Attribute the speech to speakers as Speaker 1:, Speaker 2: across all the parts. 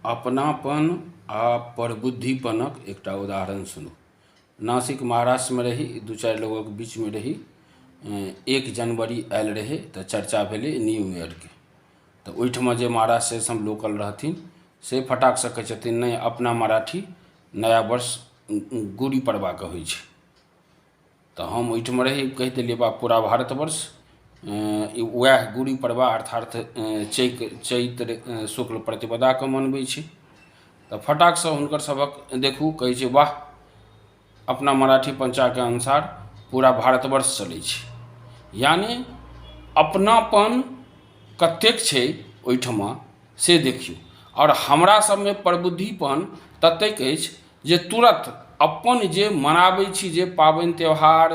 Speaker 1: अपनापन आ परबुद्धिपनक एकटा उदाहरण सुनू नासिक महाराष्ट्रमे रही दू चारि लोगक बीचमे रही एक जनवरी आयल रहै तऽ चर्चा भेलै न्यू ईयरके तऽ ओहिठमा जे महाराष्ट्र से हम लोकल रहथिन से फटाकसँ कहै छथिन नहि अपना मराठी नया वर्ष गुड़ी पड़बाके होइ छै तऽ हम ओहिठाम रही कहि देलियै बाप पूरा भारतवर्ष वएह गुड़ी पड़बा अर्थात चैत चैत्र शुक्ल प्रतिपदाके मनबै छी तऽ फटाक से हुनकर सभक देखू कहै छै वाह अपना मराठी पंचाके अनुसार पूरा भारतवर्ष चलै छै यानि अपनापन कतेक छै ओहिठमा से देखियौ आओर हमरा सभमे प्रबुद्धिपन ततेक अछि जे तुरत अपन जे मनाबै छी जे पाबनि त्यौहार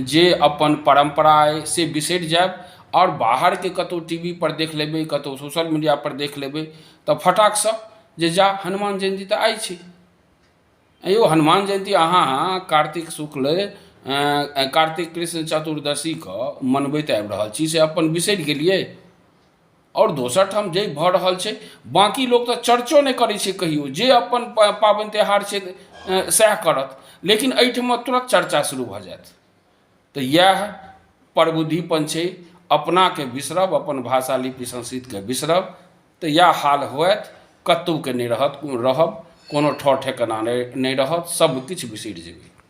Speaker 1: जे अपन परम्परा अछि से बिसरि जायब आओर बाहरके कतौ टी वी पर देख लेबै कतौ सोशल मीडिया पर देख लेबै तऽ फटाक सऽ जे जा हनुमान जयन्ती तऽ आइ छै ऐं यौ हनुमान जयन्ती अहाँ कार्तिक शुक्ल कार्तिक कृष्ण चतुर्दशी कऽ मनबैत आबि रहल छी से अपन बिसरि गेलियै आओर दोसर ठाम जे भऽ रहल छै बाँकी लोक तऽ चर्चो नहि करै छै कहियो जे अपन पाबनि तिहार छै सएह करत लेकिन एहिठमा तुरत चर्चा शुरू भऽ जायत तऽ इएह प्रबुद्धिपन छै अपनाके बिसरब अपन भाषा लिपि संस्कृतिके बिसरब तऽ इएह हाल होयत कतहुके नहि रहत रहब कोनो ठौर ठेकाना नहि रहत सभकिछु बिसरि जेबै